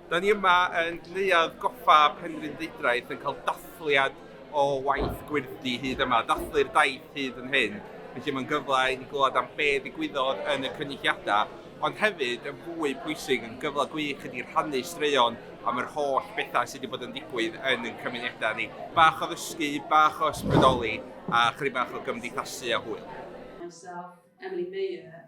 Da ni yma yn Neuadd Goffa Penrhyn Deudraeth yn cael dathliad o waith Gwyrdi hyd yma, dathlu'r daith hyd yn hyn. Felly mae'n gyfle i ni glywed am be ddigwyddodd yn y cynulliadau, ond hefyd yn fwy pwysig yn gyfle gwych i ni rhannu straeon am yr holl bethau sydd wedi bod yn digwydd yn y cymunedau ni. Bach o ddysgu, bach o ysbrydoli a chri bach o gymdeithasu a hwyl. Myself, Emily Mayer,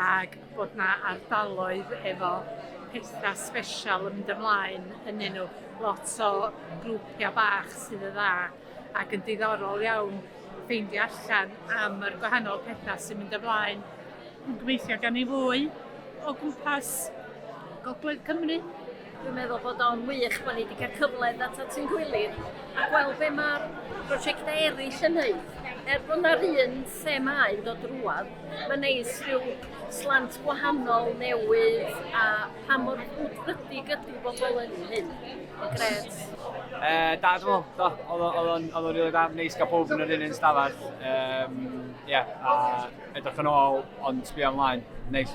ac bod yna ardaloedd efo petha sbesial yn mynd ymlaen ynnyn nhw, lot o grwpiau bach sydd yn dda, ac yn diddorol iawn ffeindio allan am yr gwahanol petha sy'n mynd ymlaen. Dwi'n gobeithio gawn ni fwy o gwmpas Gogledd Cymru. Dwi'n meddwl bod o'n wych bod ni wedi cael cyfle i ddod at ein gilydd a gweld be mae'r prosiectau eraill yn wneud. Er bod yna'r un themau yn dod drwad, mae'n neis rhyw slant gwahanol newydd a pa mor wrthrydig ydy bobl yn hyn. Gret. E, da, dwi'n meddwl, oedd o'n rili da, neis gael pob yn yr un un stafell. Um, yeah, a edrych yn ôl, ond sbio ymlaen, neis.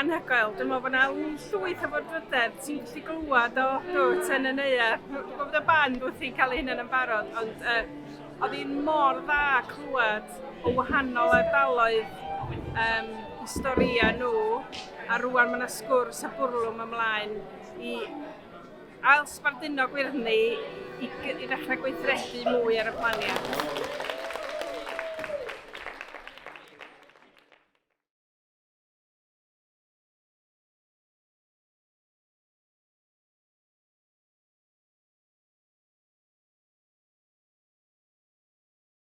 Anhygoel. Dwi'n meddwl bod yna llwyth o fodrydedd ti'n gallu glywed o dwt yn y neuadd. Gwybod y band wrth i'n cael ei hunain yn barod, ond uh, oedd hi'n mor dda clywed o wahanol ardaloedd um, historiau nhw, a rwan mae yna sgwrs a bwrlwm ymlaen i Ail sbarduno gwyrddni i ddechrau gweithredu mwy ar y planiad.